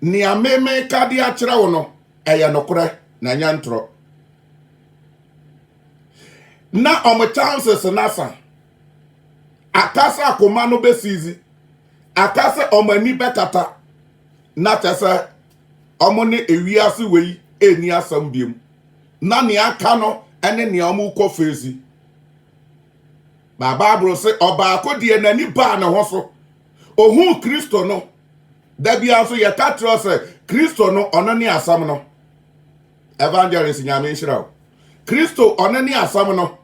Nea me mereka de akyerɛ wo no, ɛyɛ nokorɛ, na ɛnyɛ ntorɔ. Na wɔn chances no asa. Aka sɛ akoma no bɛsiizi. Aka sɛ wɔn ani bɛkata. Na kyɛ sɛ wɔn ne ewiase wei ɛnni asɛm biom. Na nea aka no ne nea wɔrekɔ feesi. Ba Bible se, ɔbaako deɛ n'ani baa ne ho so. Ɔhuu Kristo no, Da biara nso yɛka kyerɛ sɛ Kristo no ɔno ne asɛm no. Evangelist Nyame nhyira wo. Kristo ɔno ne asɛm no.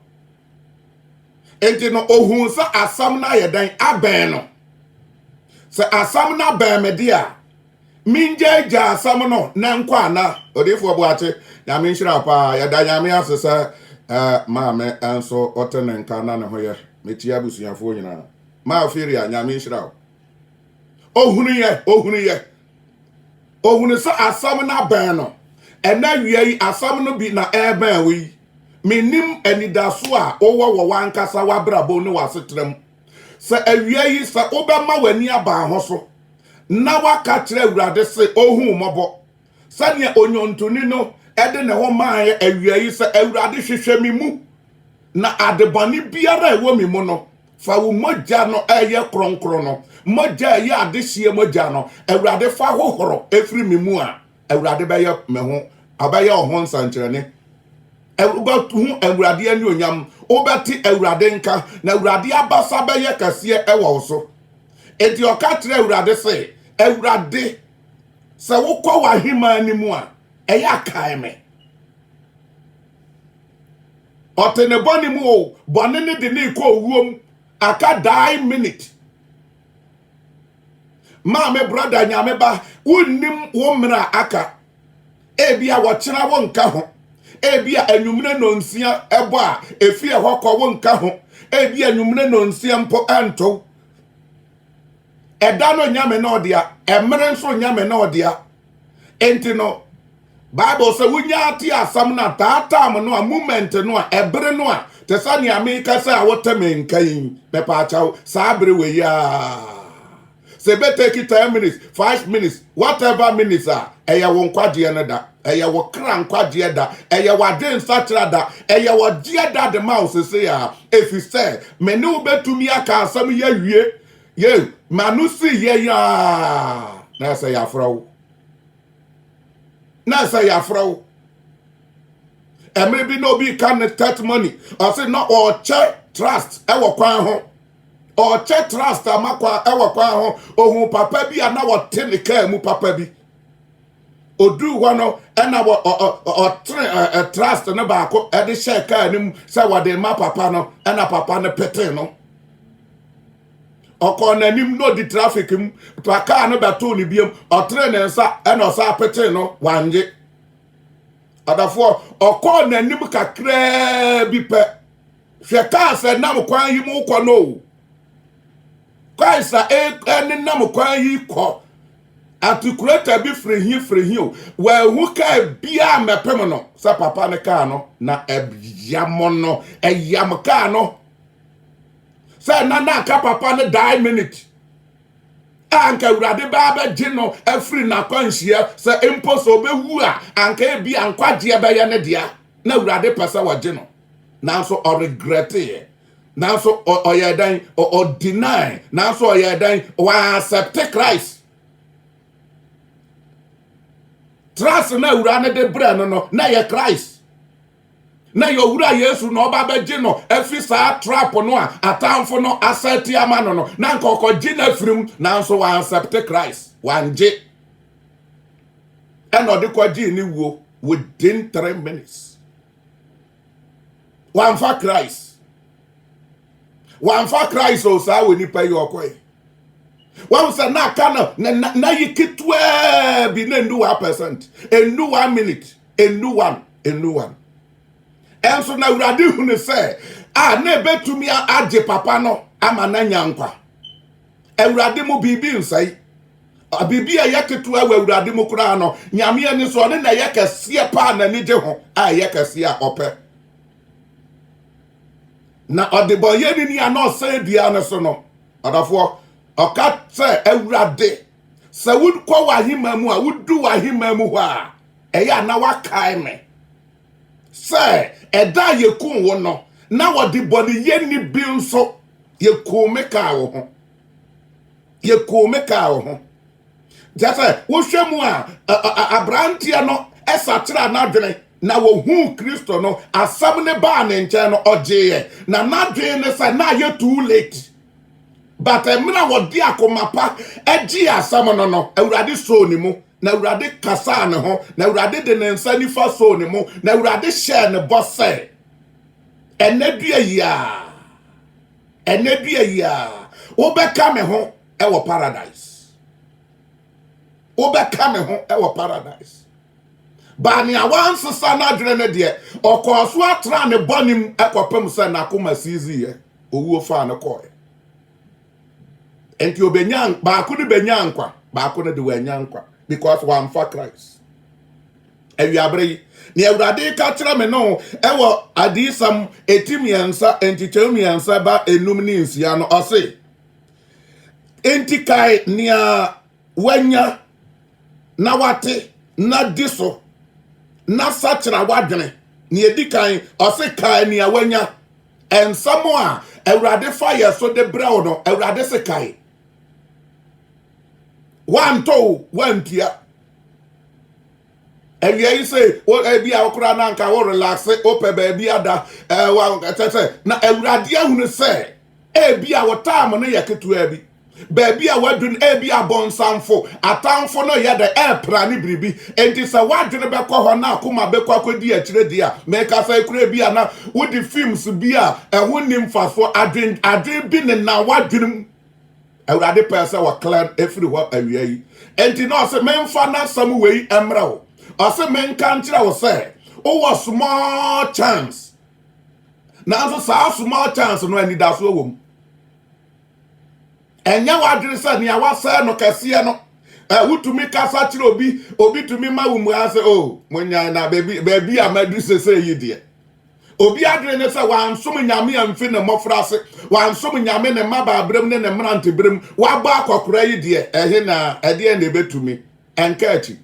Enti no ohun sɛ asɛm no ayɛ dɛn abɛn no. Sɛ asɛm no abɛn me de a mengyaagyaa asɛm no na nkɔ ana odiifoɔ Boakye Nyame nhyira wo paa yɛda Nyame ase sɛ eh, maame nso ɔte ne nka na ne ho yɛ mekyia abusuafoɔ nyinaa maa Firia Nyame nhyira wo. ohunuiɛ ohunuiɛ ohunu sɛ asɛm no abɛn no ɛna awia yi asɛm no bi na ɛrebɛn wo yi menim anidaso a wowɔ wɔ w'ankasa w'abrabɔ ne w'asetra mu sɛ awia yi sɛ wobɛma w'ani aban ho so na waka kyerɛ awurade se ohun mmɔbɔ sɛnea onyontoni no ɛde ne ho maaeɛ awia yi sɛ awurade hwehwɛ me mu na adebɔne biara a ɛwɔ me mu no Fa wo mogya no a ɛyɛ kronkron no, mogya a ɛyɛ adehyeɛ mogya no, Awurade fa hohoro ɛfiri me mu a, Awurade bɛyɛ me ho, ɔbɛyɛ wo ho nsɛnkyerɛnne. Wobɛhu Awurade anuonyam, wobɛte Awurade nka, na Awurade abasa bɛyɛ kɛseɛ ɛwɔ wo so. Enti ɔka kyerɛ Awurade se, Awurade, sɛ wokɔ w'aheman no mu a, ɛyɛ akae me. Ɔte ne bɔne mu o, bɔne ne de ne rekɔ owuo mu. Aka die minute. Maame brada nyame ba, wonnim wo mmerɛ a aka. Ebia wɔkyena wo nka ho. Ebia anwummerɛ nonsia ɛbɔ a efie hɔ kɔ wo nka ho. Ebia anwummerɛ nonsia mpo ɛntow. Ɛda no nyame na ɔdea, ɛmmerɛ nso nyame na ɔdea. Enti no, Bible sɛ wonyaa te asɛm no a, taa time no a, moment no a, ɛbere no a, te sɛ nea meka sɛ a wote me nka yi, mepaakyɛw, saa bere wei a, sɛ ɛbɛtake 10 minutes, 5 minutes, whatever minutes a, ɛyɛ wo nkwagyeɛ no da. Ɛyɛ wo kra nkwagyeɛ da. Ɛyɛ w'adwen nsakyera da. Ɛyɛ wɔgyeɛ da de ma wo sese a, ɛfiri sɛ me ne wo bɛtumi aka asɛm yi awie. Yei ma no sii yɛn a na ɛsɛ yɛafrɛ wo na ɛsɛ yɛafrɛ wo ɛmere bi na obi ka ne testimony ɔse na ɔkyɛ trust ɛwɔ kwan ho ɔkyɛ trust ama kwan ɛwɔ kwan ho ohun papa bi a na wɔte ne kaa mu papa bi oduu hɔ no ɛna ɔtene trust no baako ɛde hyɛ kaa no mu sɛ wɔde ma papa no ɛna papa no pete no ɔkɔɔ n'anim na odi traffic mu pa kaa no bɛtoo ne biam ɔtere ne nsa ɛna ɔsa apetee no wanye adafoɔ ɔkɔɔ n'anim kakraa bi pɛ hwɛ kaa sɛ nam kwan yi mu kɔ no kaa sa ɛne nam kwan yi kɔ atikulata bi firi hi firi hi o wɔahu kaa biaa mɛpem no sɛ papa ne kaa no na ɛyam no ɛyam kaa no sɛ na na anka papa no die minute a anka awurade baa bɛgye no afiri n'akwanhyia sɛ mpo sɛ ɔbɛwu a anka ebi a nkwagyeɛ bɛyɛ ne dea na awurade pɛ sɛ wɔgye no nanso ɔregreteeɛ nanso ɔyɛ dɛn ɔdinae nanso ɔyɛ dɛn wɔasɛpte christ trust na awura no de brɛ no no na yɛ christ na yɛ owura yesu na ɔba bɛgye no afiri saa trap no a atamfo no asɛte ama no no na nka ɔkɔgye no afiri mu nanso wansɛpte christ wangye ɛna ɔde kɔgyee ne wuo within three minutes wamfa christ wamfa christ o saa wɔ nipa yi ɔkɔe wɔn sɛ na aka no na na yi ketewa bi na endu one percent endu one minute nnuan nnuan. Ɛnso na Awurade hunu sɛ a na ɛbɛtumi agye papa no ama no anya nkwa. Awurade mu biribi nsɛe. Biribi a ɛyɛ ketewa wɔ Awurade mu koraa no, Nyame ani so ɔne na ɛyɛ kɛseɛ paa n'ani gye ho a ɛyɛ kɛseɛ a ɔpɛ. Na ɔdebɔnyɛni ni a na ɔsɛn dua no so no, ɔdɔfoɔ, ɔka sɛ Awurade sɛ wokɔ w'ahemma mu a wodu w'ahemma mu hɔ a ɛyɛ a na wakae me sɛ ɛda a yɛkuu wo no na wɔde bɔneyɛ nni bi nso yɛkuu me kaa wo ho yɛkuu me kaa wo ho kyɛ sɛ wohwɛ mu a aberanteɛ no ɛsakyera n'adwene na wɔhuu kristo no asɛm ne baa ne nkyɛn no ɔgyeeɛ na n'adwene ne sɛ na yɛ too late But mmerɛ a wɔde akoma pa gyee asɛm no no, Awurade soo ne mu, na Awurade kasaa ne ho, na Awurade de ne nsa nifa soo ne mu, na Awurade hyɛɛ ne bɔ sɛ, Ɛnnɛ dua yi ara, ɛnnɛ dua yi ara, wobɛka me ho wɔ paradise. Wobɛka me ho wɔ paradise. Baa nea wansesa n'adwene no deɛ, ɔkɔɔ so atena ne bɔne mu kɔpem sɛ n'akoma siiziiɛ. owuo faa no kɔɔɛ. Enti obenya baako no benya nkwa, baako no de wanya nkwa because wamfa Christ. Awiabere yi, ne Awurade ka kyerɛ me no ɛwɔ adiyisɛm eti mmiɛnsa nkyekyɛm mmiɛnsa ba enum ne nsia no ɔse, enti kae nea W'anya, na w'ate, na di so, na sakyera w'adwene. Nea edi kan, ɔse kae nea w'anya. Nsɛm a Awurade fa yɛ so de brɛ wo no, Awurade se kae. W'antɔ o, w'antua. Awia yi se, ebi a wokora na anka wo relaxe, wopɛ baabi ada, ɛwɔ, kyɛ sɛ, na Awurade ahunu sɛ, ebi a wo taam no yɛ ketewa bi. baabi a wadu no ebi abɔnsamfo atamfo no yɛ dɛ ɛpra ne biribi enti sɛ wadwene bɛkɔ hɔ na akoma bɛkɔ akɔdi akyire deɛ a meka sɛ kura bi a na wodi films bi a ɛho nni mfasoɔ adwen adwen bi ne na wadwene mu awurade pɛɛ sɛ wɔkla ɛfiri hɔ awia yi enti na ɔse memfa n'asɛm wei mmerɛ wo ɔse menka nkyerɛ wo sɛ wowɔ small chance nanso saa small chance no anidasoɔ wɔ mu ɛnyɛ w'adwene sɛ nea wasɛe no kɛseɛ no ɛ wotumi kasa kyerɛ obi obi tumi ma wo mua sɛ o monyae na baabi baabi a madu sese yi deɛ obi adwene ne sɛ wansom nyame amfi ne mmɔfra ase wansom nyame ne mmabaa berɛm ne ne mmerante berɛm wabɔ akɔkora yi deɛ ɛhe na ɛdeɛ na ɛbɛtumi ɛnka akyi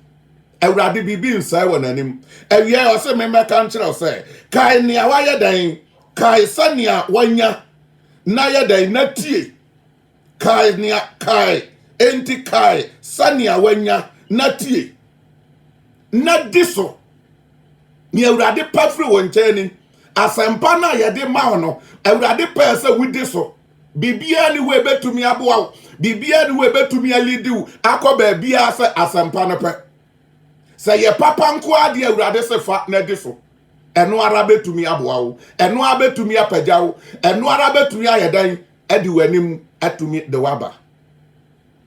awurade biribi nsɛe wɔ n'anim awia ɔse memmɛka nkyerɛ wo sɛ kae nea wayɛ dɛn kae sɛnea wanya Na yɛ dɛn? Na tie! Kae nea, kae, enti kae sɛnea woanya, na tie, na di so. Nea Awurade pɛ firi wo nkyɛn ni, asɛmpa no a yɛde ma wo no, Awurade pɛɛ sɛ wodi so. Biribiara ni hɔ ebetumi aboa wo, biribiara ni hɔ ebetumi alidi wo akɔ baabiara sɛ asɛmpa no pɛ. Sɛ yɛ papa nko ara deɛ Awurade se fa na di so. ɛno ara bɛtumi aboa wo ɛno ara bɛtumi apagya wo ɛno ara bɛtumi ayɛ dɛn adi w'anim atumi de waba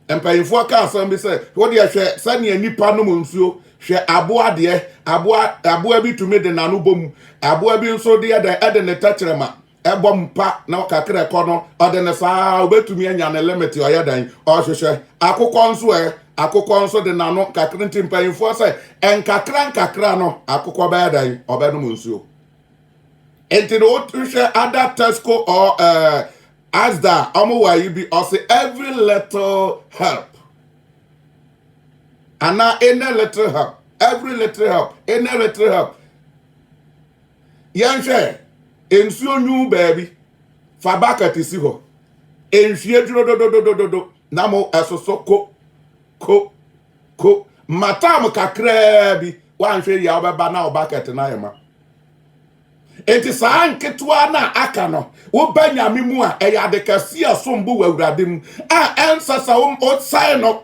mpanyinfoɔ ka asɛm bi sɛ wodeɛ hwɛ sɛdeɛ nnipa nom nsuo hwɛ aboa deɛ aboa aboa bi tumi de n'ano bom aboa bi nso deɛ dɛn ɛde ne tɛkyerɛma ɛbɔ mu pa na kakra ɛkɔ no ɔde ne saa obetumi anya ne limit ɔyɛ dan ɔhwehwɛ akokɔ nso ɛ akokɔ nso de n'ano kakra nti mpanyinfoɔ sɛ nkakra nkakra no akokɔ bɛyɛ dan ɔbɛnom nsuo nti na wohwɛ ada tesco or uh, asda ɔmo wɔ ayi bi ɔse every little help ana any little help every little help any little help Yɛnhwɛ, Nsuo nwu baabi, fa bucket si hɔ. Nhwie duro dododododo na mo ɛsoso ko, ko, ko. Ma tam kakraa bi, woanhwɛ yia wobɛba na wo bucket no ayɛ ma. Enti saa nketewa no a aka no, woba Nyame mu a, ɛyɛ ade kɛse a ɛsom bo wɔ Awurade mu a ɛnsɛ sɛ wosɛe no.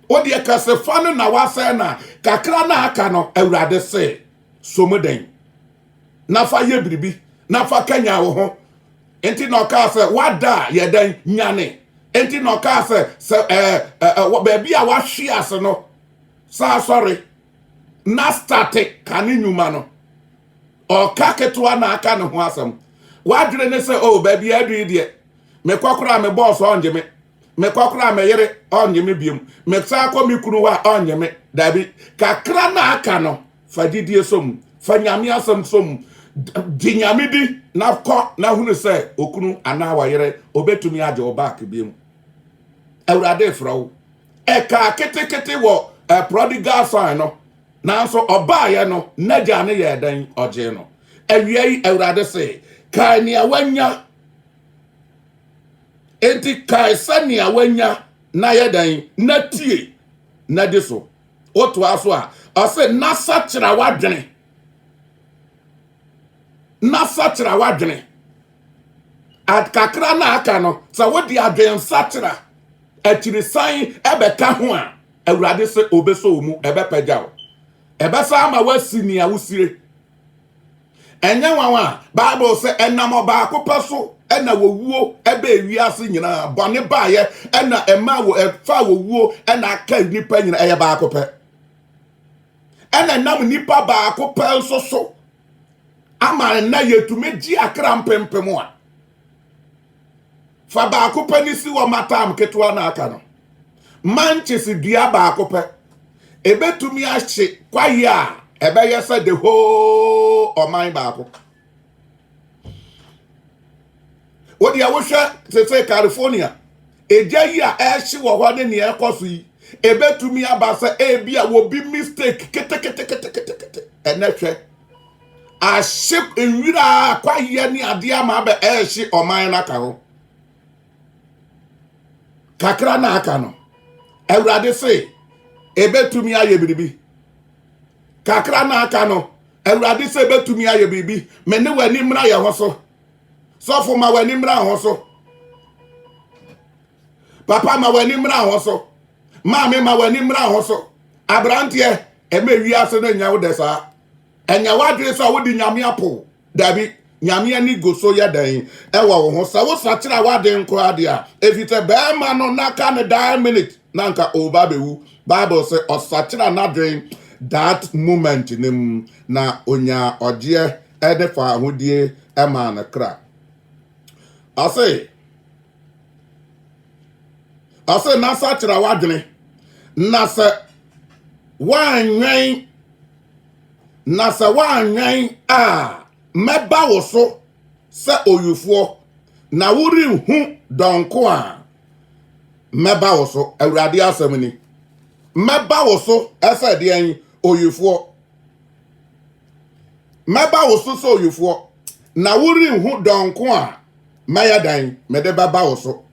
Wodeɛ kɛsefa no na woasɛe no a, kakra no a aka no, Awurade se. so mu den, na fa yɛ biribi, na fa kanyan wo ho. Enti na ɔkaa sɛ, wada a yɛ dɛn nyane. Enti na ɔkaa sɛ, sɛ ɛɛ ɛɛ baabi a wahwe ase no, saa sɔre na starte ka ne nnwuma no. Ɔka ketewa na aka ne ho asɛm. Wadwene ne sɛ, o oh, baabi a adu yi deɛ. Mekɔ koraa me boss ɔngye me. Mekɔ koraa me yere ɔngye me biom. Mesan kɔ me kunu hɔ a ɔngye me. Dabi, kakra na aka no, fa gyidie som, fa Nyame asɛm som, gye Nyame di na kɔ na hunu sɛ okunu anaa ɔyere obetumi agye wo back biom. Awurade refrɛ wo. Ɛkaa ketekete wɔ eh, prodigal son no, nanso ɔbaeɛ no n'agya no yɛɛ dɛn? Ɔgyee no. Awia yi Awurade se, kae nea wanya Enti kae sɛnea wanya na yɛ dɛn na tie na di so. Wotoa so a, ɔse na sakyera w'adwene. Na sakyera w'adwene. Kakra na aka no, sɛ wode adwene sakyera akyirisan ɛbɛka ho a, Awurade sɛ obeso wo mu, ɛbɛpagya wo. Ɛbɛsa ama woasi nea wosire ɛnyɛ nwanwa a bible sɛ ɛnam ɔbaako pɛ so na wɔwuo bɛɛ wiase nyinaa bɔne baeɛ ɛna ɛma wɔ ɛfa wɔwuo ɛna aka nnipa nyinaa ɛyɛ baako pɛ ɛna nam nnipa baako pɛ nso so ama ɛna yɛtumi gye akra mpempem a Fa baako pɛ no si hɔ ma tam ketewa na aka no. Manches dua baako pɛ. Ebetumi ahye kwae a ɛbɛyɛ sɛ the whole ɔman baako. Wo deɛ wohwɛ te sɛ California, egya yi a ɛhye wɔ hɔ ne nea ɛkɔ so yi, ebetumi aba sɛ ebi a wobi mistake keteketekete ɛnɛ hwɛ. ahye nwira kwaeɛ ne adeɛ ama abɛ ɛrehye ɔman no aka hɔ kakra na aka no awurade se ɛbɛtumi ayɛ biribi kakra na aka no awurade sɛ ɛbɛtumi ayɛ biribi me ne w'ani mmra yɛ ho so sɔfo ma w'ani mmra ho so papa ma w'ani mmra ho so maame ma w'ani mmra ho so aberanteɛ ɛma wiase no nyɛ wo dɛ saa. Ɛnyɛ w'adwene sɛ wode Nyame apo. Dabi, Nyame ani gu so yɛ dɛn ɛwɔ wo ho sɛ wo sakyera w'aden koraa deɛ a? Efisɛ bɛɛma no n'aka ne daa minit na anka ɔreba abɛwu. Bible se ɔsakyera n'adwen that moment no mu na ɔnyaa ɔgyeɛ ne faahodie maa ne kra. Ɔse. ɔse na sakyera w'adwene na sɛ woanwɛn na sɛ woanwɛn a mɛba wo so sɛ owifoɔ na worenhu dɔnko a mɛba wo so awurade asɛm ni mɛba wo so ɛsɛ deɛn owifoɔ Mɛba wo so sɛ owifoɔ, na worenhu dɔn ko a mɛyɛ dan mede bɛba wo so.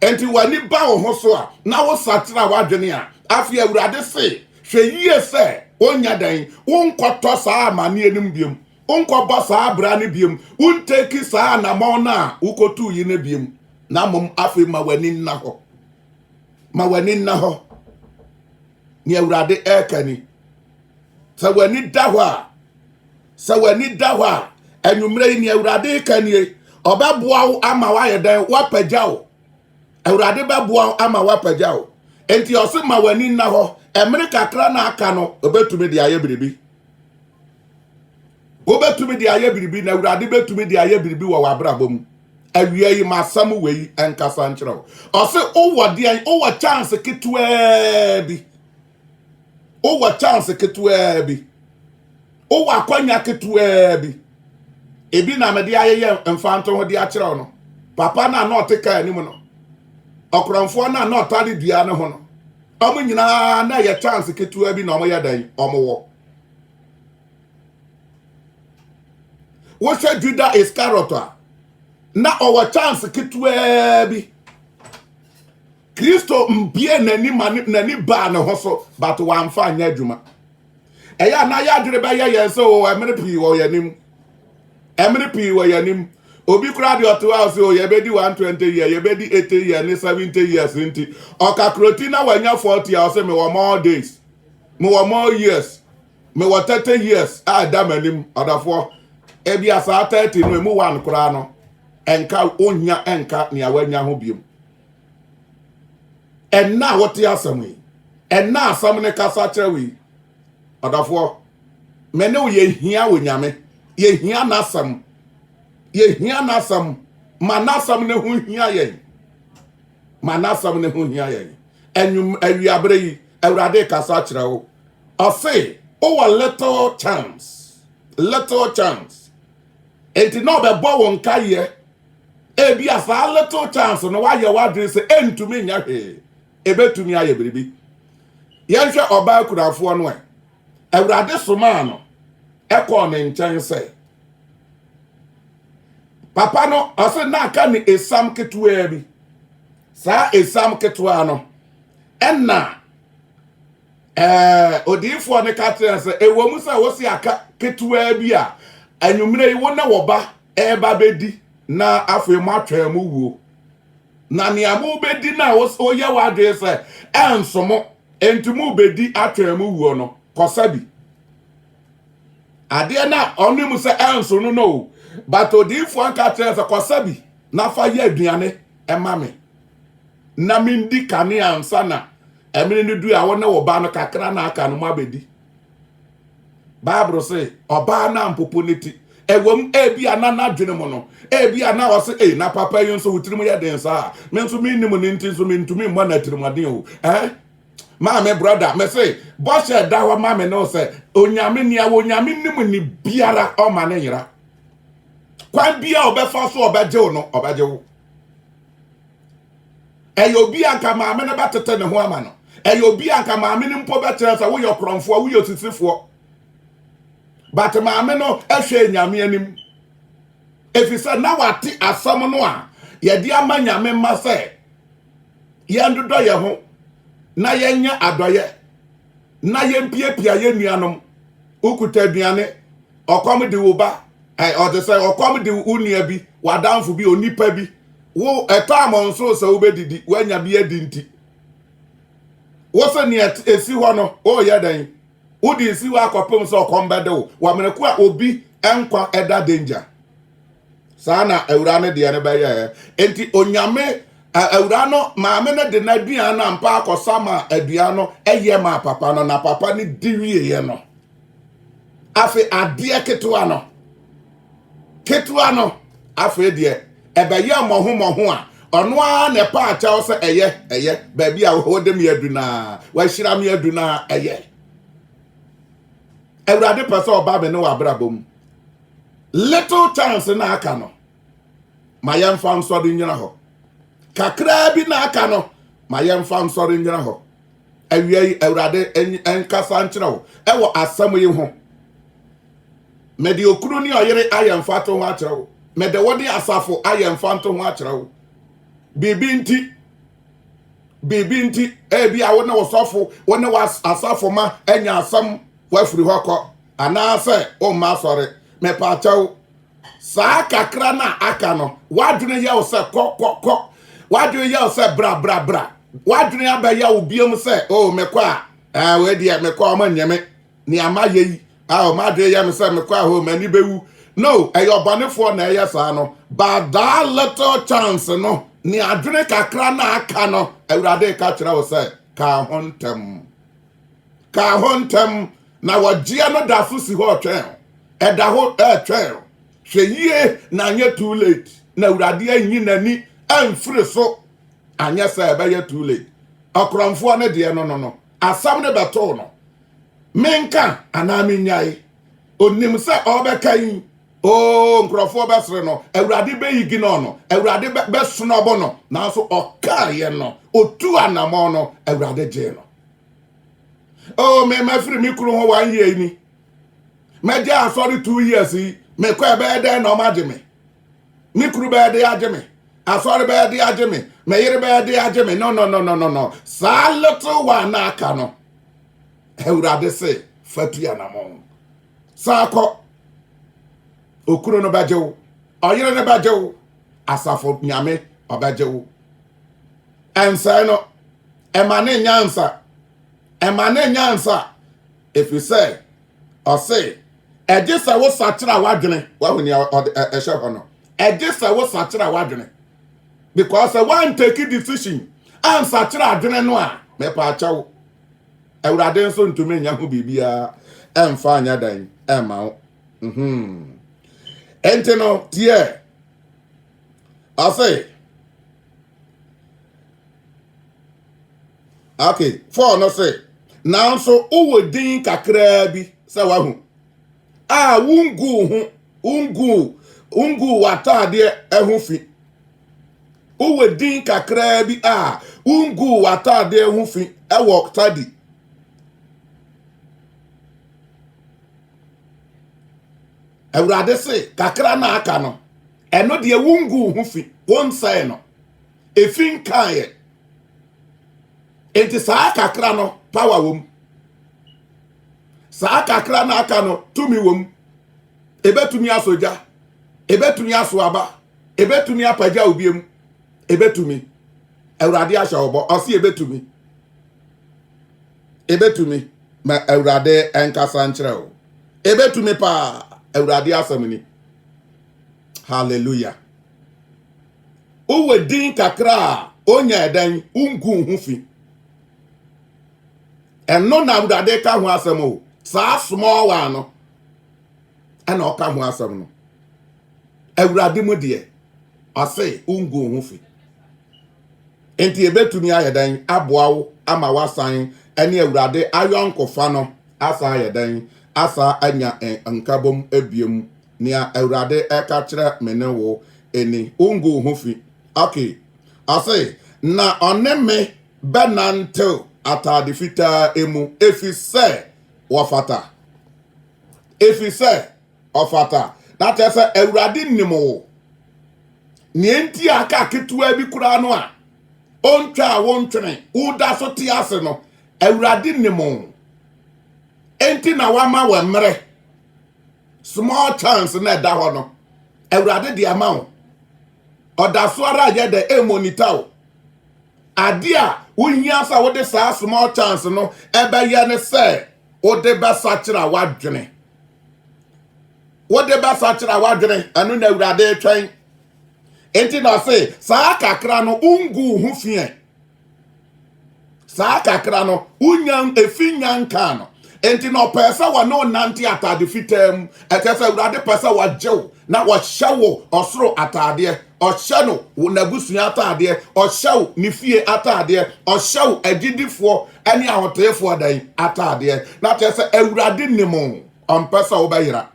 Enti w'ani ba wo ho so a, na wosakyera w'adwene a, afei Awurade se, hwɛ yie sɛ wonyɛ dɛn, wonkɔtɔ saa amanneɛ no mu biom, wonkɔbɔ saa abira no biom, wonteki saa anammɔn no a wokɔtuu yi no biom, na mmom afei ma w'ani nna hɔ. Ma w'ani nna hɔ. nea awurade ɛreka ni sɛ w'ani da hɔ a sɛ w'ani da hɔ a anwummerɛ yi nea awurade reka nie ɔbɛboa wo ama woayɛ dɛn woapagya wo awurade bɛboa wo ama woapagya wo enti ɔse ma w'ani nna hɔ ɛmere kakra na aka no ɔbɛtumi de ayɛ biribi wobɛtumi de ayɛ biribi na awurade bɛtumi de ayɛ biribi wɔ w'abrabɔ mu awia yi masɛm wei nkasa nkyerɛ wo ɔse wowɔ deɛn wowɔ chance ketewaa bi wowɔ chance ketewaa bi wowɔ akwanya ketewaa bi ebi na mede ayɛyɛ mfanto ho de akyerɛ wo no papa no a na ɔte kaa anim no ɔkorɔmfoɔ no a na ɔtare dua no ho no Wɔn nyinaa na ɛyɛ chance ketewa bi na wɔyɛ dɛn wɔwɔ. Wohwɛ Juda Iscariot a na ɔwɔ chance ketewa bi. Kristo mbie n'ani ma n'ani baa ne ho so but wamfa anyɛ adwuma. ɛyɛ a na yɛ adwene bɛyɛ yɛn sɛ o ɛmene pii wɔ yɛn anim ɛmene pii wɔ yɛn anim obi koraa deɛ ɔte hɔ a sɛ o yɛbɛdi one twenty year yɛbɛdi eighty year ne seventy years nti ɔkakroti na wanya forty a ɔsɛ mewɔ more days mewɔ more years mewɔ thirty years a ɛda m'anim ɔdɔfoɔ ebi asaa thirty no emu one koraa no ɛnka onnya ɛnka nea wanya ho biom ɛnna a wote asɛm yi ɛnna asɛm no kasa kyerɛ wo yi ɔdɔfoɔ me ne wo yɛhia wɔ nyame yɛhia n'asɛm yɛhia n'asɛm ma n'asɛm no ho hia yɛn ma n'asɛm no ho hia yɛn anwum awiaberɛ yi awurade kasa kyerɛ wo ɔse wowɔ little chance little chance enti na ɔbɛbɔ wo nkaeɛ Ebia saa little chance no woayɛ w'adwene sɛ ɛntumi nyɛ hwee. Ɛbɛtumi ayɛ biribi. Yɛnhwɛ ɔbaa kurafoɔ no ɛ. Awurade somaa no ɛkɔɔ ne nkyɛn sɛ papa no ɔse na aka ne esam ketewaa bi. Saa esam ketewaa no ɛna ɛɛ odiyifoɔ no ka kyerɛ sɛ ɛwɔ mu sɛ wose aka ketewaa bi a anwummerɛ yi wo ne wo ba reba abɛdi, na afei moatwɛn mo wuo. Na nea mobɛdi no a woyɛ w'adwene sɛ ɛnso mo, enti mobɛdi atwɛn mo wuo no, kɔsa bi. Adeɛ no a ɔne mu sɛ ɛnso no no o, but odiyifoɔ nka kyerɛ sɛ kɔsa bi na fa yɛ aduane ɛma me. Na mendi kanea ansa na ɛmene no du a wo ne wo ba no kakra na aka no mo abɛdi. bible se ɔbaa no ampopo ne ti ɛwam ebi a na n'adwene mu no ebi a na ɔse ei na papa yi nso wo tirim yɛ den saa me nso mennim ne nti nso mentumi mmɔ no atirimuɔden o eh maame brɔda me se bɔhyɛ ɛda hɔ ma me ne wo sɛ onyame nea wɔ onyame nim ne biara ɔma ne nyera kwan bia ɔbɛfa so ɔbɛgye wo no ɔbɛgye wo Ɛyɛ obi a anka maame no bɛtete ne ho ama no. Ɛyɛ obi a anka maame no mpo bɛkyerɛ sɛ woyɛ korɔmfoɔ, woyɛ osisifoɔ. But maame no hwɛɛ Nyame anim. Ɛfiri sɛ na wate asɛm no a yɛde ama Nyame mma sɛ yɛndodɔ yɛn ho na yɛnyɛ adɔyɛ na yɛmpiapia yɛn nuanom. Wokuta aduane, ɔkɔm de wo ba, ɔte sɛ ɔkɔm de wo nua bi, w'adamfo bi, onipa bi. Wo ɛtɔ amɔn so sɛ wobɛdidi, woanya bi adi nti. Wo sɛ nea ɛsi hɔ no, woyɛ dɛn? Wode si hɔ akɔpem sɛ ɔkɔm bɛde wo. Wɔ mmerɛ ko a obi nkwa ɛda danger. saa na awura no deɛ no bɛyɛɛ enti onyame awura no maame no de n'aduan no ampa akɔsa ma aduan no ɛyɛ ma papa no na papa no di wieɛ no afei adeɛ ketewa no ketewa no afei deɛ ɛbɛyɛ mmɔho mmɔho a ɔno ara na ɛpa akyɛw sɛ ɛyɛ ɛyɛ baabi a wɔde me adu no a wɔahyira me adu no a ɛyɛ awurade pɛ sɛ ɔba me ne wɔ abrabɔ mu Little chance na aka no, ma yɛmfa nsɔre nnyina hɔ. Kakraa bi na aka no, ma yɛmfa nsɔre nnyina hɔ. Awia yi, Awurade nkasa nkyerɛ wo ɛwɔ asɛm yi ho. Mede okunu ne ɔyere ayɛ mfato ho akyerɛ wo. Mede wo ne asafo ayɛ mfanto ho akyerɛ wo. Biribi nti, biribi nti, ebi a wo ne wo sɔfo, wo ne w'asafo ma anya asɛm wafiri hɔ kɔ. Anaasɛ womma asɔre. Mepaakyɛw, saa kakra no a aka no, w'adwene yɛ wo sɛ kɔ, kɔ, kɔ. W'adwene yɛ wo sɛ bra, bra, bra. W'adwene abɛyɛ wo biam sɛ, o, oh, mekɔ a, ɛɛ, eh, wei deɛ, mekɔ a, wɔn nyɛ me. Nea mayɛ yi, a, oh, m'adwene yɛ me sɛ mekɔ a, o, oh, m'ani bɛwu. No, ɛyɛ ɔbɔnefoɔ na ɛyɛ saa no. But that little chance no, ne adwene kakra no a aka no, Awurade reka kyerɛ wo sɛ, ka ho ntɛm. kaa hɔ ntɛm, na wɔgyeɛ no da so si hɔ retwɛn wo. Ɛda hɔ retwɛn wo. Hwɛ yie na anyɛ too late na Awurade anyi n'ani amfiri so anyɛ sɛ ɛbɛyɛ too late. Ɔkorɔmfoɔ no deɛ no no no, asɛm no bɛtoo no. Menka anaa mennyae? Ɔnim sɛ ɔrebɛka yi, oo nkurɔfoɔ bɛsere no, Awurade bɛyiginɔ no, Awurade bɛsnɔbo no, nanso ɔkaeɛ no, ɔtuu anammɔn no, Awurade gyee no. oh me mafiri me kunu hɔ one year ni mɛgye asɔre two years yi mekɔ ɛbɛyɛ dɛn na ɔmagye me me kunu bɛyɛ de agye me asɔre bɛyɛ de agye me me yere bɛyɛ de agye me no no no no no no saa little one na aka no awurade se fatu anamɔn saa kɔ okunu no bɛgye wo ɔyere no bɛgye wo asafo nyame ɔbɛgye wo ɛnsɛe no ɛma ne nyansa ɛma ne nyansa ɛfiri sɛ ɔse ɛgye sɛ wo sakyera w'adwene wahu nea ɛhyɛ hɔ no ɛgye sɛ wo sakyera w'adwene because sɛ woantake decision ansakyera adwene no a mepaakyɛw awurade nso ntumi nya ho biribiara ɛmfa anyɛ dan ɛma wo mhm. ɛnti no tiɛ Afei, okay, Paul no se, nanso wowɔ din kakraa bi sɛ wahu a wonguu ho wonguu wonguu w'ataadeɛ ɛho fi wowɔ din kakraa bi a wonguu w'ataadeɛ ho fi ɛwɔ tadi awurade se kakra na aka no Ɛno deɛ wongu wo ho fi wonsɛe no efi nkaeɛ nti saa kakra no power wom saa kakra no aka no tumi wom ebetumi asɔ gya ebetumi aso aba ebetumi apagya obiem ebetumi awurade ahyɛ ɔbɔ ɔsi ebetumi ebetumi ma awurade nkasa nkyerɛ o ebetumi paa awurade asɛm ni hallelujah wowɔ din kakra a onya ɛdan wongu ho fi ɛno na awurade ka ho asɛm o saa small one no ɛna ɔka ho asɛm no awurade mu deɛ ɔse wongu ho fi nti ebetumi ayɛ dan aboa wo ama wasan ɛne awurade ayɔnkofa no asan ayɛ dan asa anya nkabom ebiem Nea Awurade reka kyerɛ me ne wo ni, Wungu wo ho fi. Okay. Ɔse, Na ɔne me bɛnantew atade fitaa mu, efisɛ wɔfata. Efisɛ ɔfata. Na kyerɛ sɛ Awurade nim wo. Nea enti a kaa ketewa bi koraa no a ontwaa wo ntwene, woda so te ase no, Awurade nim wo. Enti na wama wo mmere small chance na ɛda hɔ no awurade de ama wo ɔda so ara yɛ dɛ ɛmonita wo ade a wohia sɛ wode saa small chance no ɛbɛyɛ ne sɛ wode bɛsakyera w'adwene wode bɛsakyera w'adwene ɛno na awurade twɛn enti na ɔse saa kakra no wongu wo ho fiɛ saa kakra no wonya efi nya nkaa no nti na ɔpɛɛ sɛ wɔne ɔnante atade fitaa mu ɛkyɛ sɛ awurade pɛ sɛ wɔgye wo na wɔhyɛ wo ɔsoro ataadeɛ ɔhyɛ no wo n'abusua ataadeɛ ɔhyɛ wo ne fie ataadeɛ ɔhyɛ wo agyidifoɔ ne ahoteefoɔ dan ataadeɛ na kyerɛ sɛ awurade nim ɔmpɛ sɛ wobɛyera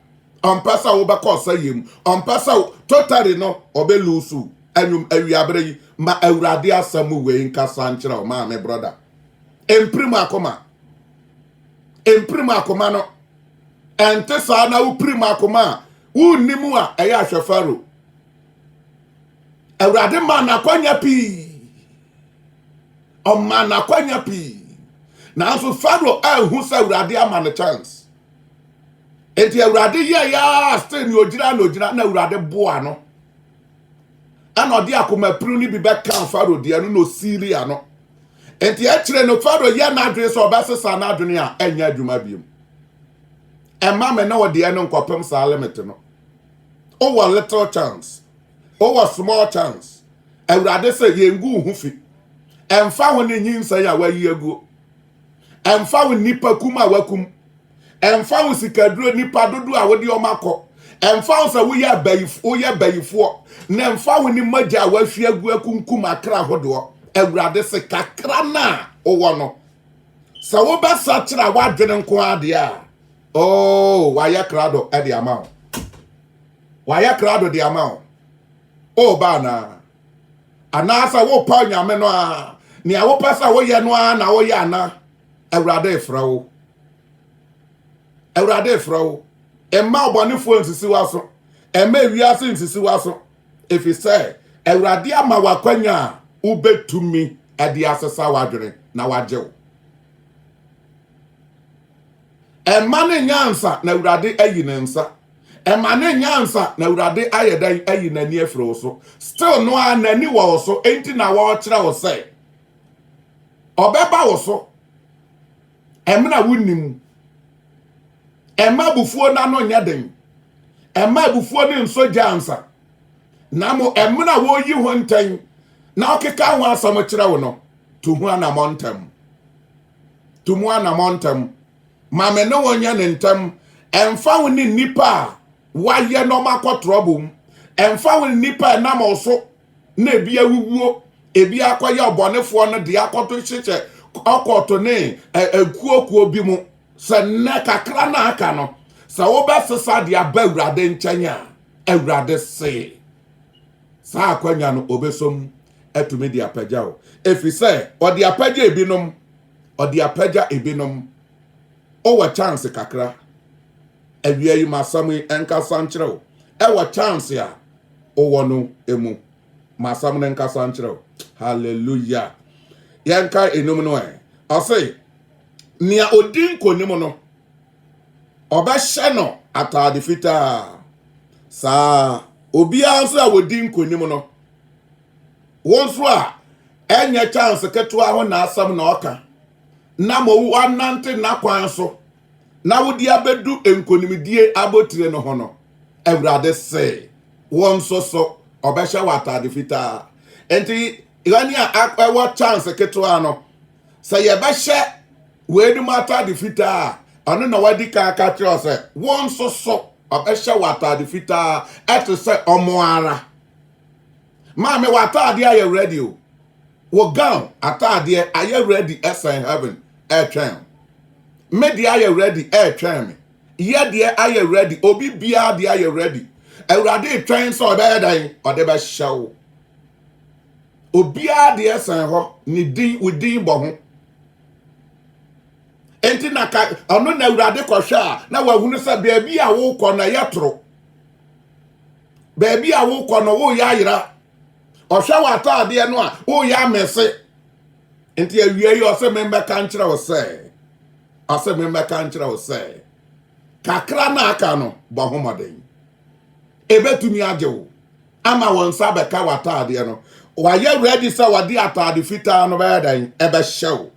ɔmpɛ sɛ wobɛkɔ ɔsɛeɛ mu ɔmpɛ sɛ totari no ɔbɛlusu anwum awiaberɛ yi ma awurade asɛm wei nkasa nkyerɛ wo maame brɔda mpirim akoma mpirim akoma no ɛnte saa na wopirim akoma a wonni mu a ɛyɛ ahwɛ faro awurade ma n'akwanya pii ɔma n'akwanya pii nanso faro anhu sɛ awurade ama no chance enti awurade yɛ yɛa still ne ogyina na ogyina na awurade boa no ɛna ɔde akoma pirim no bi bɛka faro deɛ no na ɔsiili ano enti akyire no faro yɛ n'adwene sɛ ɔbɛsesa n'adwene a ɛnyɛ adwuma biom ɛma me ne wo deɛ no nkɔpem saa limit no wowɔ little chance wowɔ small chance awurade sɛ yɛngu ho fi ɛmfa ho ne nyinsɛn a wayi aguo ɛmfa wo nnipa kum a wakum ɛmfa wo sikaduro nipa dodo a wode wɔn akɔ ɛmfa wo sɛ woyɛ abayifo woyɛ bayifoɔ na ɛmfa wo ne mogya a wahwie agu akunkum akra ahodoɔ awurade se kakra no a wowɔ no sɛ wobɛsa kyerɛ a woadwene nko adeɛ a oh wayɛ krado de ama wo wayɛ krado de ama wo o baa naa anaasɛ wopa onyame no a nea wopɛ sɛ woyɛ no a na woyɛ ana awurade refrɛ wo awurade refrɛ wo mma ɔbɔnefoɔ nsisi w'aso mma ewiase nsisi w'aso ɛfiri sɛ awurade ama w'akwanya a wobɛtumi de asesa w'adwene na wagye wo ɛma ne nyansa na awurade ayi ne nsa ɛma ne nyansa na awurade ayɛ dɛn ayi n'ani afiri wo so still no a n'ani wɔ wo so enti na wɔrekyerɛ wo sɛ ɔbɛba wo so ɛmena wonim ɛma abufuo no ano nyɛ den ɛma abufuo no nso gya ansa na mo ɛmena wɔyi ho ntɛn na ɔkeka ho asɛm kyerɛ wo no to ho anamɔ ntɛm to mu anamɔ ntɛm ma me ne wɔn nyɛ ne ntɛm ɛmfa ho ne nnipa a wayɛ na ɔmakɔ trɔbo mu ɛmfa ho ne nnipa ɛnam ɔso na ebi awuwuo ebi akɔyɛ ɔbɔnefoɔ no deɛ akɔto hyehyɛ ɔkɔto ne akuokuo bi mu sɛ nnɛ kakra no aka no sɛ wobɛsesa de aba awurade nkyɛn a awurade se saa akwanya no ɔbɛsom atumi de apagya wo ɛfiri sɛ ɔde apagya ebinom ɔde apagya ebinom ɔwɔ chance kakra awia yi masɛm yi ɛnkasa nkyerɛ wo ɛwɔ chance a wowɔ no mu ma asɛm no nkasa nkyerɛ wo hallelujah yɛnka enum no ɛ ɔse nea odi nkonim no ɔbɛhyɛ no ataade fitaa saa obiara nso a wɔdi nkonim no wɔn nso a ɛnyɛ chance ketewa ho na asɛm na ɔka na ma wɔnante n'akwan so na wode abedu nkonimdie abotire no ho no, Awurade se, wo nso so, ɔbɛhyɛ wo atade fitaa. Enti, yɛn a ɛwɔ chance ketewa no, sɛ yɛbɛhyɛ weinom atade fitaa a, ɔno na wadi kan aka kyerɛ sɛ, wo nso so, ɔbɛhyɛ wo atade fitaa ɛte sɛ ɔmo ara. Maame w'ataadeɛ ayɛ ready o. Wo gown ataadeɛ ayɛ ready ɛsɛn heaven ɛretwɛn o. Me deɛ ayɛ ready ɛretwɛn me. Yɛ deɛ ayɛ ready obi biara deɛ ayɛ ready. Awurade retwɛn sɛ ɔbɛyɛ dan ɔde bɛhyɛ wo. Obiara deɛ sɛn hɔ ne din wo din bɔ ho. Enti na ka ɔno na Awurade kɔhwɛ a na wahunu sɛ baabi a wokɔ na yɛ toro. baabi a wokɔ no woyɛ ayera ɔhwɛ w'ataadeɛ no a woyɛ amɛse nti awia yi ɔsɛ memmɛka nkyerɛ wo sɛ ɔsɛ memmɛka nkyerɛ wo sɛ kakra na aka no bɔ ho mmɔden ɛbɛtumi agye wo ama wɔn nsa bɛka w'ataadeɛ no wayɛ ready sɛ wɔde ataade fitaa no bɛyɛ dɛn ɛbɛhyɛ wo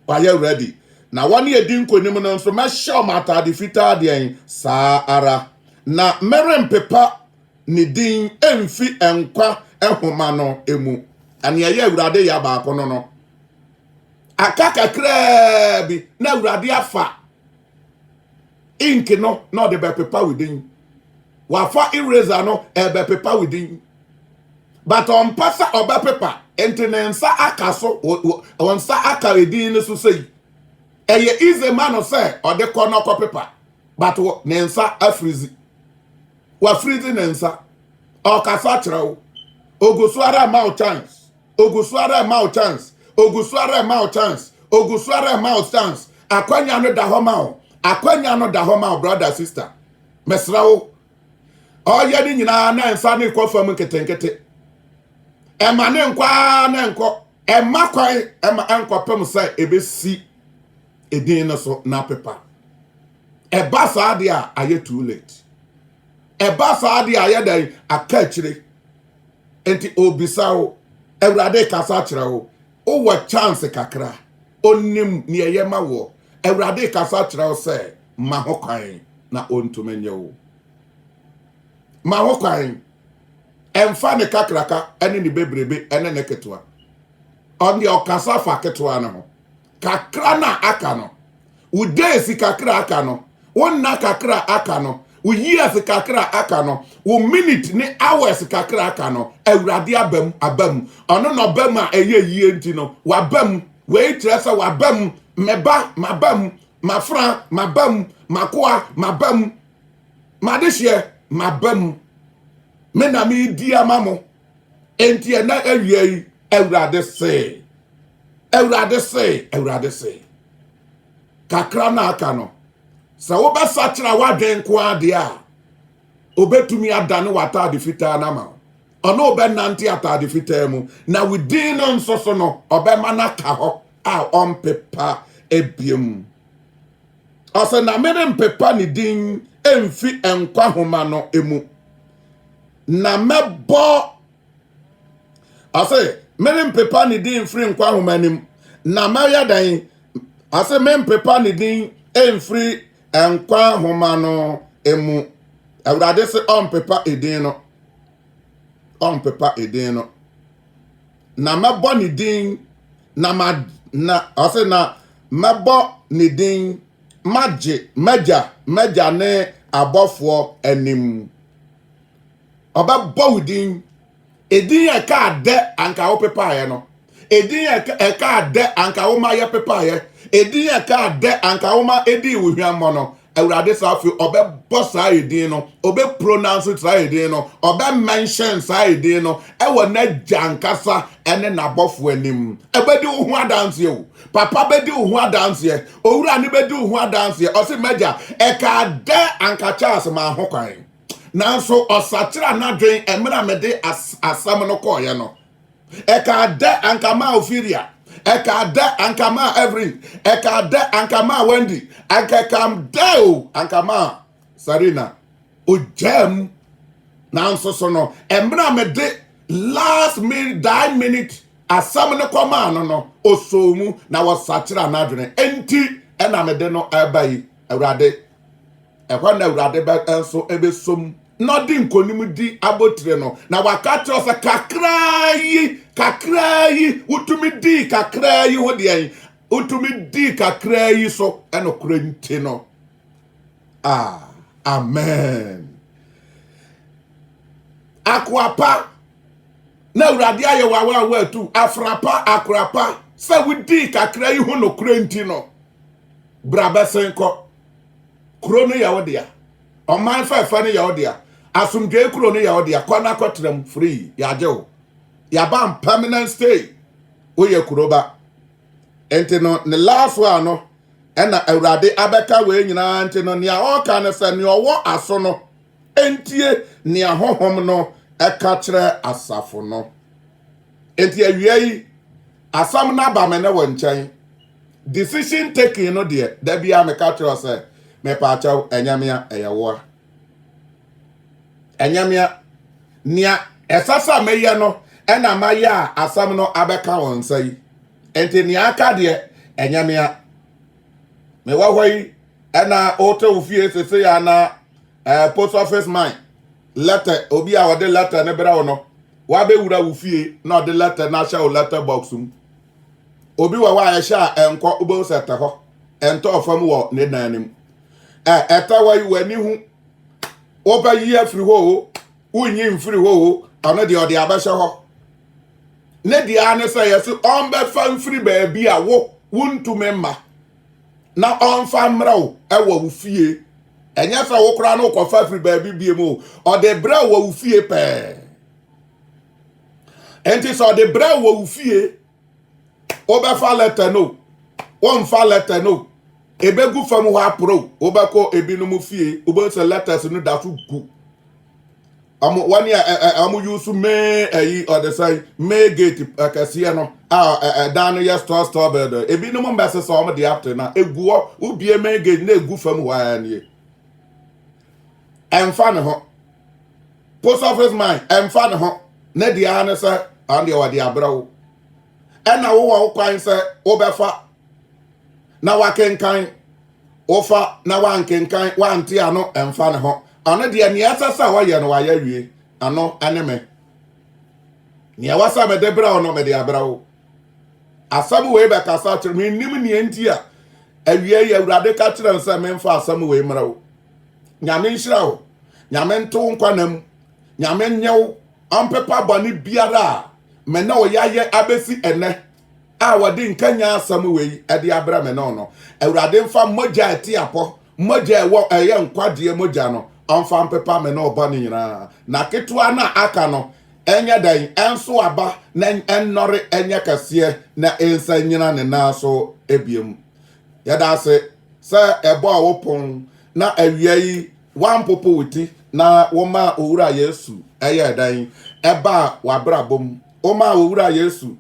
Wɔayɛ ready. Na wɔne adi nkonim no nso, mɛhyɛ wɔn atade fitaa deɛn saa ara, na merempepa ne din mfi nkwa nhoma no mu. Ɛne ɛyɛ Awurade yɛ baako no no. Aka kakraa bi na Awurade afa. ink no na ɔde bɛpepa wo din wafa eraser no ɛbɛpepa wo din but ɔmpɛ sɛ ɔbɛpepa nti ne nsa aka so wɔn nsa aka edin no so sɛyi ɛyɛ easy ma no sɛ ɔde kɔ na ɔkɔ pepa but ne nsa afirizi wafirizi ne nsa ɔkasa kyerɛ wo ogu so ara ma wo chance ogu so ara ma wo chance ogu so ara ma wo chance ogu so ara ma wo chance akwanya no da hɔ ma wo akwanya no da hɔ ma wo brother sister mesra wo ɔyɛ ne nyinaa na nsa ne kɔ fam nketenkete ɛma ne nkɔ ara na nkɔ ɛma kwan ɛma ɛnkɔpem sɛ ebesi edin no so na pepa ɛba saa de a ayɛ too late ɛba saa de a ayɛ dɛn aka akyire Enti ɔrebisa wo. Awurade rekasa akyerɛ wo. Wowɔ chance kakra. Ɔnim nea ɛyɛ ma woɔ. Awurade rekasa akyerɛ wo sɛ ma ho kwan na ɔntumi nye wo. Ma ho kwan. Ɛmfa ne kakraka ne ne bebrebe ne ne ketewa. Ɔno deɛ ɔkasa fa ketewa no ho. kakra no a aka no wo days kakra aka no wo nna kakra aka no wo years kakra aka no wo minute ne hours kakra aka no awurade abam abam ɔno na ɔbam a ɛyɛ yie nti no wabam wei kyerɛ sɛ wabam mɛba mabam mafra mabam makoa mabam madehyeɛ mabam me na medi ama mo Enti ɛnɛ awia yi, Awurade se, Awurade se, Awurade se, kakra na aka no, sɛ wobɛsakyera w'adwen nko adeɛ a, obɛtumi adane w'ataade fitaa no ama wo. Ɔne wobɛnante ataade fitaa mu, na wo din no nso so no, ɔbɛma no aka hɔ a ɔmpepa ebiem. Ɔsɛ na merempepa ne din mfi nkwa homa no mu. Na mɛbɔ, ase merempepa ne din mfiri nkwa nwoma anim, na mɛyɛ dɛn? Ase mempepa ne din mfiri nkwa nwoma no mu. Awurade se ɔmpepa edin no, ɔmpepa edin no. Na mɛbɔ ne din, na ma, na, ase na mɛbɔ ne din magye, magya, magya ne abɔfoɔ anim. ɔbɛbɔ wo din edin a ɛkaa dɛ anka wo pepaeɛ no edin a ɛkaa dɛ anka wo ma yɛ pepaeɛ edin a ɛkaa dɛ anka wo ma edii wo hwammɔ no awurade saa afei ɔbɛbɔ saa edin no ɔbɛpronounce saa edin no ɔbɛmenhyɛn saa edin no ɛwɔ n'agya ankasa ɛne n'abɔfoɔ anim ɛbɛdi wo ho adanseɛ o papa bɛdi wo ho adanseɛ owura ne bɛdi wo ho adanseɛ ɔse m'agya ɛkaa dɛ anka Charles ma ho kwan Nanso ɔsakyeraa n'adwene mmerɛ a mede asɛm no kɔɔeɛ no. Ɛkaa dɛ anka maa Ophelia, ɛkaa dɛ anka maa Evelyn, ɛkaa dɛ anka maa Wendy, anka ɛkaa dɛ o anka maa Sarina. Ogyaa mu. Nanso so no, mmerɛ a mede last minute, die minute asɛm no kɔmaa no no, ɔsɔɔ mu na wɔsakyeraa n'adwene. Enti ɛna mede no ɛba yi, Awurade. ɛhɔ na awurade bɛ nso ɛbɛsom na ɔde nkonim di abotire no na waka kyerɛ sɛ kakraa yi kakraa yi wotumi dii kakraa yi ho deɛn wotumi dii kakraa yi so ɛnokorɛ nti no ah amen akoapa na awurade ayɛ wawa a woatu afrapa akorapa sɛ wodii kakra yi ho nokorɛ nti no Bra bɛsen kɔ. Kuro no yɛ wo dea. Ɔman fɛfɛ no yɛ wo dea. Asomdwee kuro no yɛ wo dea. Kɔ na kɔ tram free. Yɛagye wo. Yɛaba n permanent stay. Woyɛ kuro ba. Nti no ne last one no ɛna Awurade abɛka wei nyinaa nti no nea ɔka no sɛ nea ɔwɔ aso no ntie nea honhom no ɛka kyerɛ asafo no. Enti awia yi asɛm no aba me ne wo nkyɛn. Decision taking no deɛ, da biara meka kyerɛ wo sɛ, mepaakyɛw, ɛnyɛ mea, ɛyɛ woa. Ɛnyɛ mea. Nea ɛsɛ sɛ meyɛ no ɛna mayɛ a asɛm no abɛka wo nsa yi. Enti nea aka deɛ, ɛnyɛ mea. Mewɔ hɔ yi, ɛna wote wo fie sese anaa eh, post office man. Lɛtɛ, Obi a ɔde lɛtɛ no brɛ wo no, wabɛwura wo fie na ɔde lɛtɛ no ahyɛ wo lɛtɛ box mu. Obi wɔ hɔ a ɛhyɛ a ɛnkɔ wobɛhu sɛ ɛtɛ hɔ, ɛntɔɔ fam wɔ ne dan no mu. Ɛ ɛtɛ hɔ yi w'ani hu, wobɛyi afiri hɔ o, wonyi mfiri hɔ o, ɔno deɛ ɔde abɛhyɛ hɔ. Ne deɛ ara ne sɛ yɛse ɔmbɛfa mfiri baabi a wo wontumi mma. na ɔmfa mmerɛ wo wɔ wo fie ɛnyɛ sɛ wo koraa na wokɔfa firi baabi bie mu ɔde berɛ wɔ wo fie pɛɛ ɛnti sɛ ɔde berɛ wɔ wo fie wobɛfa lɛtɛ no wɔmfa lɛtɛ no ɛbɛgu fam hɔ aporo wobɛkɔ ebinom fie wobɛhu sɛ letters no da so gu Ɔmo wɔn a ɛ- ɛ- ɔmo use May ɛyi ɔde sɛn May gate akɛseɛ no a ɛ- ɛ- ɛdan no yɛ store store building. Ebinom mbɛse sɛ ɔmo de ate na egu hɔ wobie May gate na egu fam hɔ ara nie. Ɛmfa ne ho. Post office man ɛmfa ne ho. Ne deɛ ara ne sɛ ɔno deɛ wɔde abrɛ wo. Ɛna wowɔ wo kwan sɛ wobɛfa na wakenkan wofa na wankenkan wante ano mfa ne ho ɔno deɛ nea ɛsɛ sɛ ɔyɛ no wayɛ wie ano ne me nea ɛwɔ sɛ mede brɛ wo no mede abrɛ wo asɛm wei bɛkasa kyerɛ mennim nea nti a awie yɛ awurade ka kyerɛ n sɛ memfa asɛm wei mmerɛ wo nyame nhyira wo nyame nto wo nkwanam nyame nyɛ wo ɔmpepa bɔne biara a me ne wo yɛayɛ abɛsi ɛnɛ a wɔde nkanyan asɛm wei de abrɛ me no no awurade mfa mogya a ɛte apɔ mogya a ɛwɔ ɛyɛ nkwagyeɛ mogya no ɔmfa mpepa me no ɔbɔ ne nyinaa na ketewa no a aka no ɛnyɛ dɛn ɛnso aba na ɛnnɔre ɛnyɛ kɛseɛ na ɛnsa nyina ne nan so ebiem yɛda ase sɛ ɛbɔɔ wo pon na awia yi woampopo wo ti na woma owura yesu ɛyɛ dɛn ɛbaa w'abrabɔ mu Womaa wo Wura Yesu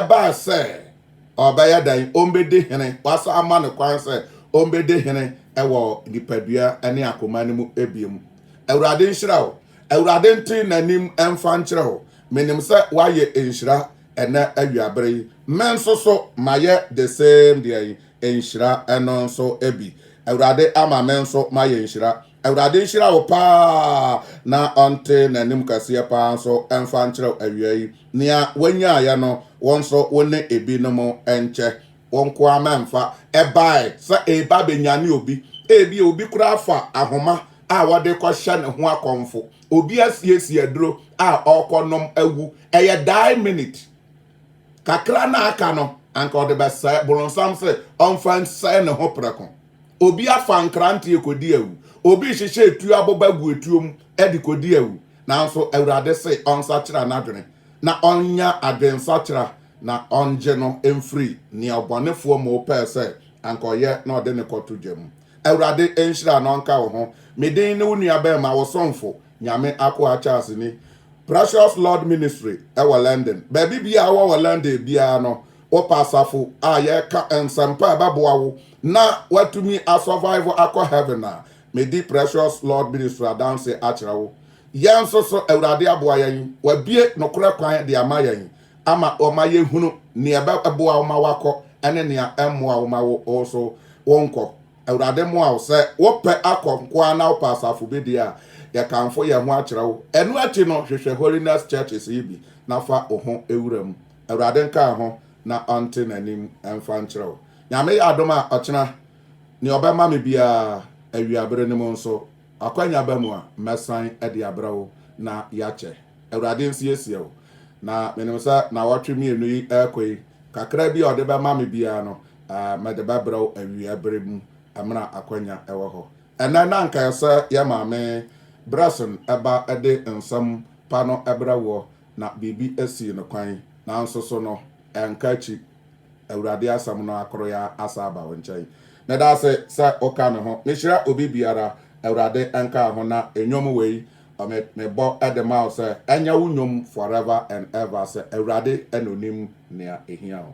baa sɛ ɔbɛyɛ dɛn? Ɔmbɛdi hene. Woasan ama no kwan sɛ ɔmbɛdi hene wɔ nipadua ne akoma no mu biom. Awurade nhyira wo. Awurade nte n'anim mfa nkyerɛ wo. Menim sɛ woayɛ nhyira ɛnɛ awiabere yi. Me nso so mayɛ the same deɛn? Nhyira no nso bi. Awurade ama me nso mayɛ nhyira. Awurade nhyira wo paa na ɔnte n'anim kɛseɛ paa nso mfa nkyerɛw awia yi. Nea wonyaeɛ no, wo nso wo ne ebinom nkyɛ. Wo nko ara mɛmfa. Ɛbae sɛ ɛreba abɛnyane obi. Ebia obi koraa afa ahoma a wɔde rekɔhyɛ ne ho akɔmfo. Obi asiesie aduro a ɔrekɔnom awu. Ɛyɛ die minute. Kakra na aka no, anka ɔde bɛsɛe. Boronsam se ɔmfa nsɛe ne ho prɛko. Obi afa nkranteɛ kɔdi awu, obi rehyehyɛ etuo aboba agu etuo mu de kɔdi awu, nanso Awurade se ɔnsakyera n'adwene, na ɔnyɛ adwensakyera, na ɔngye no mfiri nea ɔbɔnefoɔ Mo pɛɛ sɛ anka ɔyɛ na ɔde no kɔto gya mu. Awurade nhyira na ɔnka wo ho, me din ne wo nuabarima, wo somfo, Nyame akoa Charles ni, Precious Lord Ministry wɔ London. Baabi biara a wowɔ wɔ London biara no, Wopɛ asafo a yɛka nsɛmpa a ɛbɛboa wo na woatumi asurvive akɔ heaven a, medi Precious Lord Ministry adanse akyerɛ wo. Yɛn nso so, Awurade aboa yɛn. Wabue nokorɛ kwan de ama yɛn ama wɔma yɛhunu nea ɛbɛboa wo ma woakɔ ne nea ɛmmoa wo ma wo so wonkɔ. Awurade mmoa wo. Sɛ wopɛ akɔ nko ara na wopɛ asafo bi deɛ a, yɛkamfo yɛn ho akyerɛ wo. Ɛno akyi no, hwehwɛ Holiness Churches yi bi na fa wo ho wura mu. Awurade nkaa ho na ɔnte n'anim mfa nkyerɛ wo. Nyame yɛ adom a, ɔkyena, nea ɔbɛma me biara, awiabere no mu nso, akwanya ba mu a, mɛsan de abrɛ wo na yɛakyɛ. Awurade nsiesie wo. Na menim sɛ nnawɔtwe mmienu yi rekɔ yi, kakra bi a ɔde bɛma me biara no, mede bɛbrɛ wo awiabere mu mmerɛ akwanya wɔ hɔ. Ɛnnɛ na anka ɛsɛ yɛ Maame Bresson ba de nsɛm pa no brɛ woɔ, Na biribi sii no kwan, nanso so no ɛnka akyi, Awurade asɛm no akoroyɛ ara asan aba wo nkyɛn. Meda ase sɛ woka me ho. Mehyira obi biara, Awurade nkaa ho, na nnwom wei me mebɔ de ma wo sɛ ɛnyɛ wo nnwom forever and ever sɛ Awurade na onim nea ehia wo.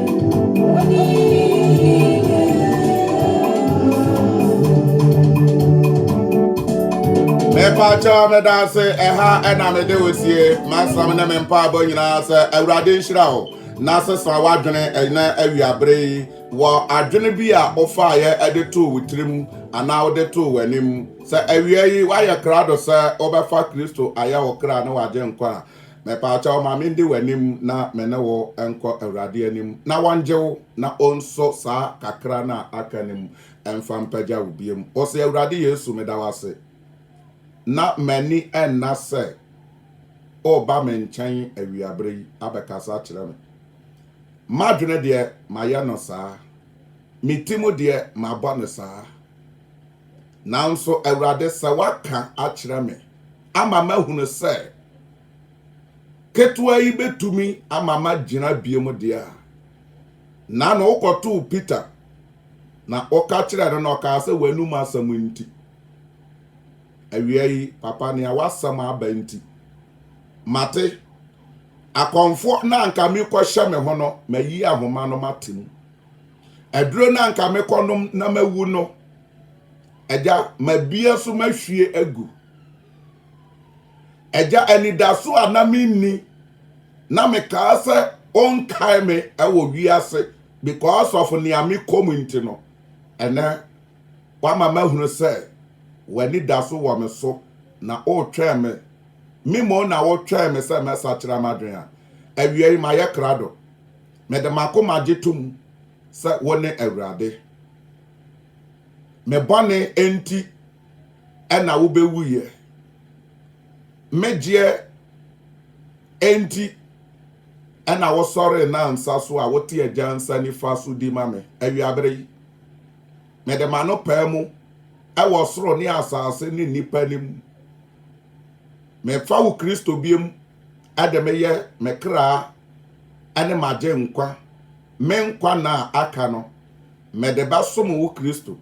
mepakyɛ meda ase ɛha ɛna mede wo sie masam ne me mpaabɔ nyinaa sɛ awurade nhyira wo na sesa w'adwene ɛnɛ awiabere yi wɔ adwene bi a wofaeɛ ɛde too wo tirim anaa wode too w'anim sɛ awia yi woayɛ krado sɛ wobɛfa kristo ayɛ wo kra ne w'agye nkwa a Mepaakyɛw ma mende w'anim na me ne wo nkɔ Awurade anim na wɔngye wo na onso saa kakra no a aka no mu mfa mpagya wo biom. Ose, Awurade Yesu, meda wo ase. Na m'ani nna sɛ woreba me nkyɛn awiabere yi abɛkasa akyerɛ me. M'adwene deɛ mayɛ no saa. Me ti mu deɛ mabɔ no saa. Nanso, Awurade, sɛ woaka akyerɛ me ama mahunu sɛ ketewa yi bɛtumi ama magyina biom deɛ a, na no wokɔtoo Peter, na woka kyerɛ no na ɔkaa sɛ w'anum asɛm nti. Awia yi, papa, nea w'asɛm aba nti, mate. Akɔmfoɔ na anka merekɔhyɛ me ho no, mayi ahoma no mate mu. Aduro no anka mekɔnom na mawu no, agya, mabia so mahwie agu. Agya, anidaso a na menni na mekaa sɛ ɔnkae me wɔ wiase because of nea mekɔm nti no, ɛnɛ wama mahunu sɛ w'ani da so wɔ me so na wotwɛn me. Me mmom na wotwɛn me sɛ mɛsakyera m'adwene a. Awiei mayɛ krado. Mede m'akoma gye tom sɛ wone Awurade. Me bɔne nti na wobɛwuiɛ. Me gyeɛ nti na wosɔree nnansa so a wote Agya nsa nifa so di ma me. Awiabere yi, mede m'ano pae mu wɔ soro ne asase ne nnipa anim. Mefa wo Kristo biam ɛde me yɛ me kraa ne m'agyenkwa, me nkwa nna a aka no, mede bɛsom wo Kristo,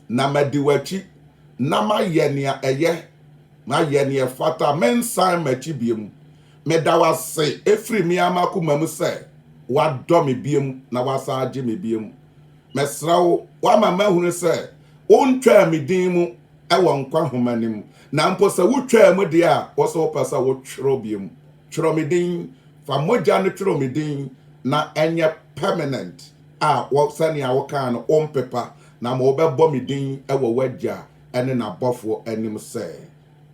na madi w'akyi, na mayɛ nea ɛyɛ, mayɛ nea ɛfata, mensan m'akyi biom. Meda wo ase ɛfiri me ara m'akoma mu sɛ woadɔ me biom na woasan agye me biom. Mɛsrɛ wo, woama mahunu sɛ wontwaa me din mu wɔ nkwa nhoma no mu, na mpo sɛ wotwaa mu deɛ a, wo nso wopɛ sɛ wotwerɛ biom. Twerɛ me din, fa mogya no twerɛ me din na ɛnyɛ permanent a wɔ sɛnea wokaa no wompepa, na ma wɔbɛbɔ me din wɔ w'Agya ne n'abɔfoɔ anim sɛ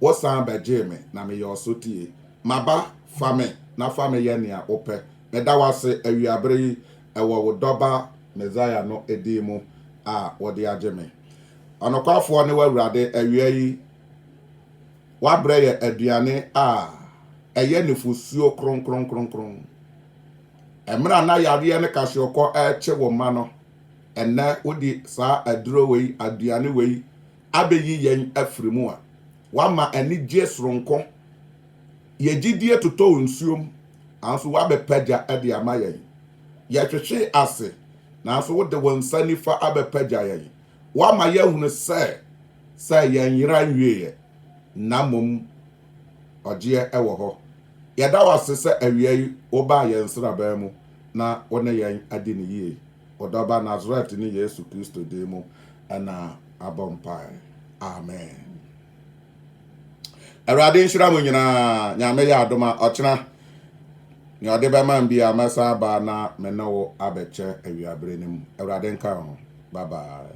wosan bɛgyee me na meyɛ ɔsotie. Maba, fa me na fa me yɛ nea wopɛ. Meda wo ase awiaberɛ yi Ɛwɔ wo Dɔba Mesaia no din mu a wode agye me. Ɔnokwafoɔ ne w'Awurade, awia yi woabrɛ yɛ aduane a ɛyɛ nufosuo kronkronkronkron. Ɛmerɛ a na yareɛ ne kahyeɔkɔ rekye wo mma no, ɛnnɛ wode saa aduro wei, aduane wei abɛyi yɛn afiri mu a woama anigyeɛ soronko. Yɛn gyidie totɔɔ nsuom, nanso woabɛpagya de ama yɛn. Yɛhwehwee ase, nanso wode wo nsa nifa abɛpagya yɛn. Woama yɛahunu sɛ, sɛ yɛn yera nwieeɛ, na mmom ɔgyeɛ wɔ hɔ. Yɛda wo ase sɛ awia yi wobaa yɛn nsraban mu na wo ne yɛn adi no yie. Wo dɔ Ba Nasaretni Yesu Kristo din mu na mabɔ mpaeɛ. Amen. Awurade nhyira mo nyinaa. Nyame yɛ adom a ɔkyena nea ɔde bɛma m bi a mɛsan aba na me ne wo abɛkyɛ awiabere no mu. Awurade nka wo ho. Bye bye.